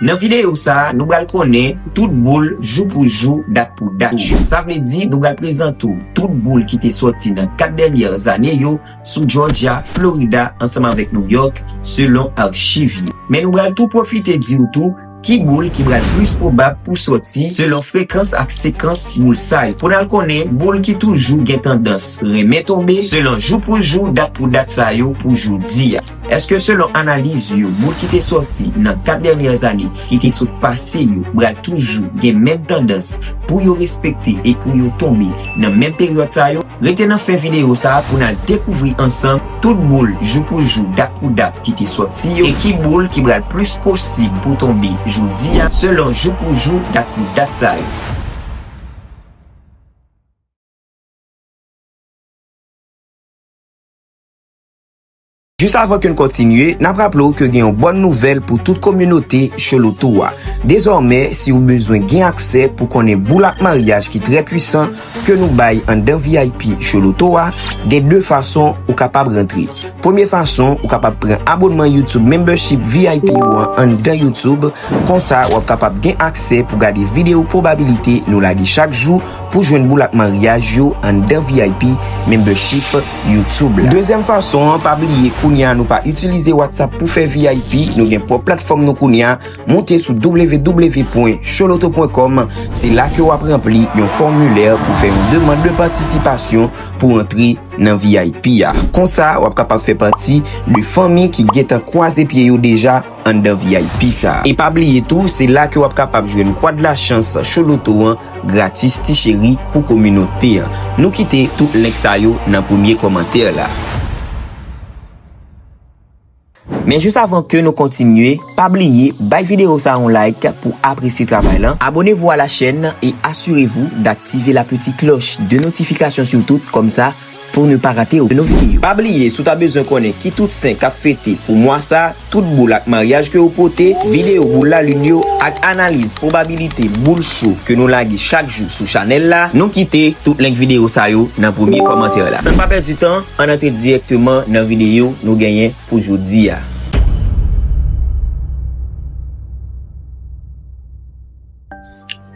Nan videyo sa, nou bal konnen tout boul jou pou jou, dat pou dat yo. Sa vle di nou bal prezante w tout boul ki te soti nan 4 dènyè zane yo sou Jòjya, Florida ansanm avèk New York selon archiv yo. Men nou bal tou pwofite di w tou ki boul ki bal plis pwobab pou soti selon frekans ak sekans boul sa yo. Pou n al konnen boul ki toujou gen tandans renmen tonbe selon jou pou jou, dat pou dat sa yo pou jodi a. Eske selon analiz yo moun ki te sòti nan 4 dènyè ane ki te sot pase yo pral toujou gen menm tandans pou yo respekte e pou yo tonbe nan menm peryòd sa yo? Rete nan fen videyo sa pou n al dekouvri ansanm tout boul jou pou jou dat pou dat ki te sòti yo e ki boul ki pral plis posib pou tonbe jodi a selon jou pou jou dat pou dat sa yo. Jis avan ke n kontinye, n ap raple w ke gen yon bòn nouvèl pou tout kominote Cholotou a. Dezòmè, si ou bezwen gen aksè pou konnen boul ak maryaj ki trè pwisan ke nou bay anndan vip Choloto a, gen 2 fason ou kapab rantre. Premye fason, ou kapab pran abonnman YouTube Membership vip ou an anndan YouTube, konsa w ap kapab gen aksè pou gade video pwobabilite nou lage chak jou pou jwenn boul ak maryaj yo anndan vip Membership. YouTube la. Dezyèm fason an, pa bliye kounye a nou pa itilize WhatsApp pou fè vip, nou gen pwòp platfòm nou kounye a, moute sou www.choloto.com, se la ke wap ranpli yon fòmilè pou fè yon demand de patisipasyon pou antre nan vip a. Konsa wap kapab fè pati de fanmi ki gentan kwaze pye yo deja anndan vip sa. E pa bliye tou, se la ke wap kapab jwenn Quad la chance Choloto an. Gratis ti cheri pou kominote an. Nou kite tout link sa yo nan premye kòmantè la. Men jis avan ke nou kontinye, pa bliye bay video sa yon like pou apresye travay lan, abonnez-vous à la chaîne et assurez-vous d'activer la petite cloche de notification surtout, kòmsa. Pou ne pa rate okenn video. Pa bliye si w ta bezwen konnen ki tout sen kap fete pou mwa sa, tout boul ak maryaj ke yo pote, video boul lalin yo ak analiz pwobabilite boul cho ke nou lage chak jou sou chanèl la, nou kite tout link video sa yo nan premye kòmantè la. San pa pèdi tan, ann antre dirèkteman nan video nou genyen pou jodi a.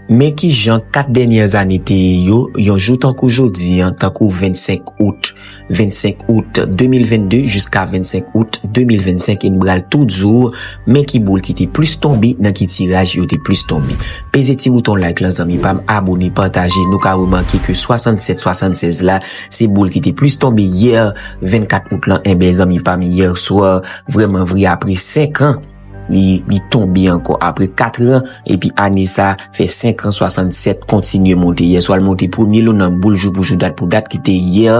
Men ki jan 4 dènyè ane te ye yo, yon jou tankou jodi, tankou 25 out, 25 out 2022 jiska 25 out 2025 e n bral tou di w men ki boul ki te plis tonbe nan ki tiraj yo te plis tonbe. Peze ti bouton like lan zanmi pa m, abone, pataje, nou ka remake ke 67 76 la se boul ki te plis tonbe yè 24 out lan enben zanmi pa m yèswa vrèmanvre apre 5 an. Li tonbe ankò apre 4 ran epi ane sa a fè 5 ran 67 kontinye monte. Yèswa l monte premye lou nan boul jou pou jou dat pou dat ki te yè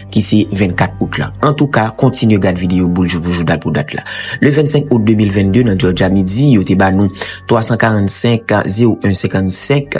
ki se 24 out la. Antouka kontinye gad videyo boul jou pou jou dat pou dat la. Le 25 out 2022 nan Jòjya midi yo te ba nou 345 01 55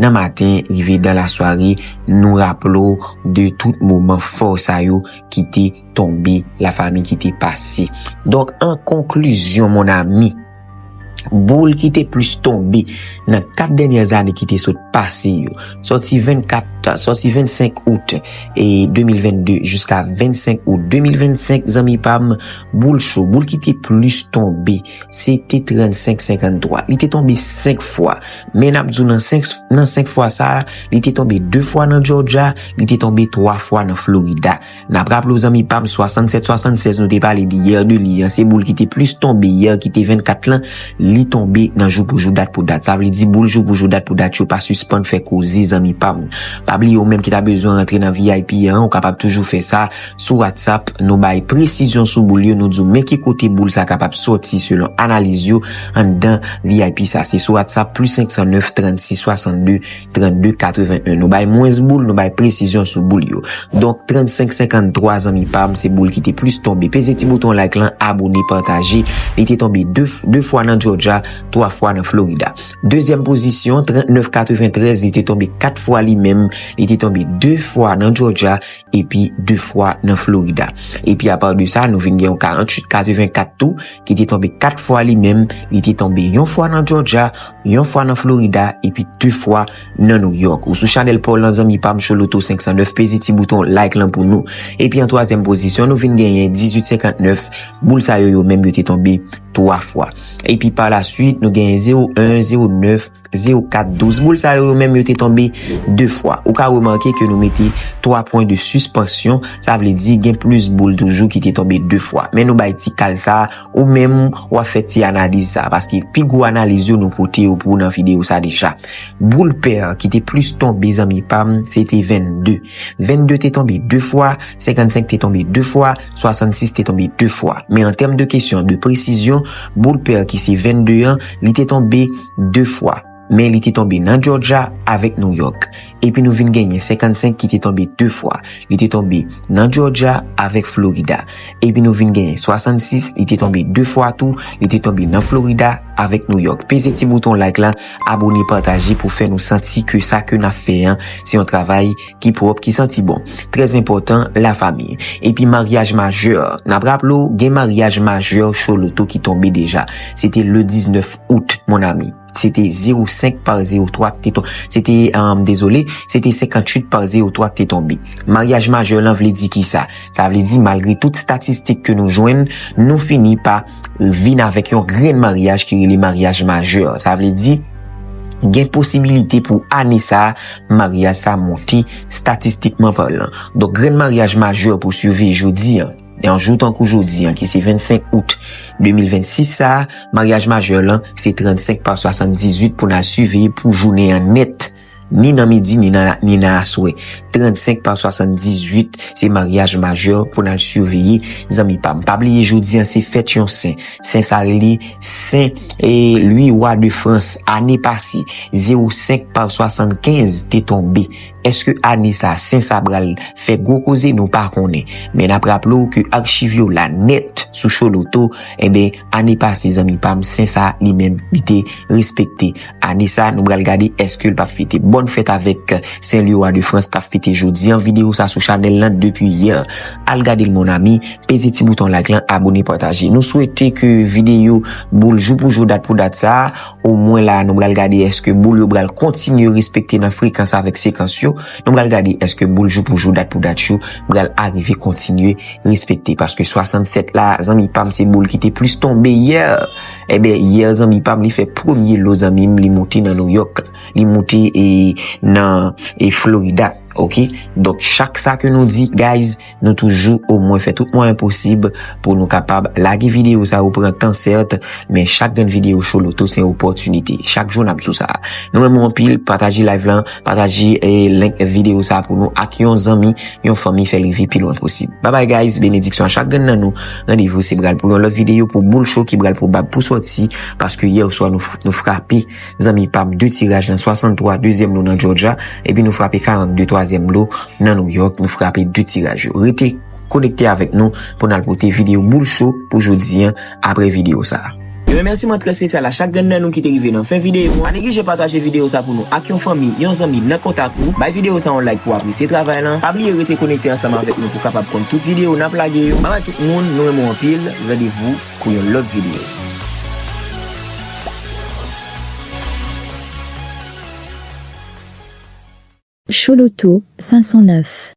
Nan maten rive dan la sware nou raple w de tout moman fò sa yo ki te tonbe la fami ki te pase. Donk an konklizyon mon ami, boul ki te plis tonbe nan 4 dènyè zane ki te sot pase yo, sòti 24, sòti 25 out 2022 jiska 25 out 2025 zanmi pa m, boul cho, boul ki te plis tonbe. se te 35-53. Li te tonbe 5 fwa. Men ap di w nan 5 fwa sa, li te tonbe 2 fwa nan Georgia, li te tonbe 3 fwa nan Florida. N ap raple w zanmi pa m, 67-76 nou te pale di yè de li an, se boul ki te plis tonbe yè ki te 24 lan, li tonbe nan jou pou jou dat pou dat. Sa vle di boul jou pou jou dat pou dat yo pa sispann fè koze zanmi pa m. Pa bliye ou menm ki ta bezwen rantre nan vip an, ou kapab toujou fè sa, Sou WhatsApp, nou bay presizyon sou boul yo, nou di w men ki kote boul sa kapab soti selon analiz yo anndan vip sa. Se sou WhatsApp, plis 509 36 62 32 81. Nou bay mwens boul, nou bay presizyon sou boul yo. Donk 35 53 zanmi pa m, se boul ki te plis tonbe. Peze ti bouton like lan, abone, pataje. Li te tonbe 2 fwa nan Georgia, 3 fwa nan Florida. Dezyèm pozisyon, 39 93, li te tonbe 4 fwa li menm. Li te tonbe 2 fwa nan Georgia. epi 2 fwa nan Florida. Epi a part de sa, nou vin gen yon 48 84 tou ki te tonbe 4 fwa li menm, li te tonbe yon fwa nan Georgia, yon fwa nan Florida epi 2 fwa nan New York. Ou sou chanèl paw lan zanmi pam Show Loto 509 peze ti bouton like lan pou nou. Epi an twazyèm pozisyon nou vin genyen 18 59, boul sa yo yo menm yo te tonbe 3 fwa. Epi par la suite nou genyen 01 09, 0, 4, 12. Boul sa yo yo menm yo te tonbe 2 fwa. Ou ka remake ke nou mete 3 pwen de suspansyon. Sa vle di gen plus boul toujou ki te tonbe 2 fwa. Men nou bay ti kal sa a. Ou menm ou ap fè ti analiz sa a. Paske pi gwo analiz yo nou pote yo pou ou nan video sa deja. Boul pair ki te plus tonbe zanmi pa m, se te 22. 22 te tonbe 2 fwa. 55 te tonbe 2 fwa. 66 te tonbe 2 fwa, men an tèm de kesyon de presizyon, boul pèr ki se 22 an, li te tonbe 2 fwa, men li te tonbe nan Jòrja avèk Nouyòk. Epi nou vin genyen 55 ki te tonbe 2 fwa, li te tonbe nan Jòrja avèk Florida. Epi nou vin genyen 66, li te tonbe 2 fwa tou, li te tonbe nan Florida avèk Nouyòk. Peze ti bouton like la, abone, pataje pou fè nou santi ke sa ke n ap fè an se yon travay. ki pwòp, ki santi bon. Trè enpòtan, la fami. Epi maryaj majè. N ap raple w, gen maryaj majè Cho Loto ki tonbe deja. Se te le 19 out, mon ami. Se te 05 par 03 ki te tonbe. Se te, m dezole, se te 58 par 03 ki te tonbe. Maryaj majè lan vle di ki sa? Sa vle di malgre tout statistik ke nou jwenn, nou fini pa. l vin avèk yon grenn maryaj ki rele maryaj majè. Sa vle di, gen posibilite pou ane sa a, maryaj sa a monte statistikman palan. Donk grenn maryaj majè pou siveyi jodi an, yon jou tankou jodi an ki se 25 out 2026 sa a, maryaj majè lan se 35 pa 78 pou n al siveyi pou jounen an nèt. ni nan midi ni nan aswè. 35 pa 78 se maryaj majè pou n al siveye zanmi pa m. Pa bliye jodi an se fèt yon sen. Sen sa rele sen Lwi Wa de Frans. Ane pase 05 pa 75 te tonbe. Eske ane sa sen sa pral fè gwo koze nou pa konnen. Men n ap raple w ke archiv yo la nèt sou Choloto. Enben ane pase zanmi pa m sen sa li menm li te respekte. Ane sa nou bral gade eskel pap fete. Bonne fête avek Saint Louis Roi de France kap fete jodi an video sa sou chanel lan depi yè. Al gadel mon ami, peze ti bouton like lan abone pataje. Nou swete ke video boul jou pou jou dat pou dat sa o mwen la nou bral gade eske boul yo bral kontinye respekte nan frekans avek sekans yo. Nou bral gade eske boul jou pou jou dat pou dat yo bral arive kontinye respekte paske 67 la zanmi pam se boul ki te plis tonbe yè. Ebyen hier zanmi pam li fè premye lo zanmi m li moute nan New York li moute e nan e Florida ok donk chak sa ke nou di guys nou toujou o mwen fè tout mwayen posib pou nou kapab lage video sa yo pran tan sèrt men chak grenn video show loto se yon opòtinite chak jou nap di w sa nou renmen w anpil pataje live lan pataje e link video sa pou nou ak yon zanmi yon fanmi fè l rive pi lwen posib babay guys benediksyon a chak grenn nan nou. Randevou se bral pou yon lòt videyo pou boul cho ki bral pwobab pou sòti paske yè oswa nou frape zanmi pam 2 tiraj nan 63 dezyèm lo nan Georgia epi nou frape 42 twazyèm lo nan New York nou frape 2 tiraj yo rete konekte avèk nou pou nal pote videyo boul cho pou jodi an apre videyo sa. Yon remèsiman trè spesyal a chak grenn nan nou ki te rive nan fen videyo a. Pa neglije pataje videyo sa pou nou ak yon fanmi, yon zanmi, nan kontak ou. Bay videyo sa yon like pou w apresye travay lan. Pa bliye rete konekte ansanm avèk nou pou w kapab konn tout videyo n ap lage yo. Babay tout moun, nou renmen w anpil, randevou pou yon lòt videyo. Chouloutou 509.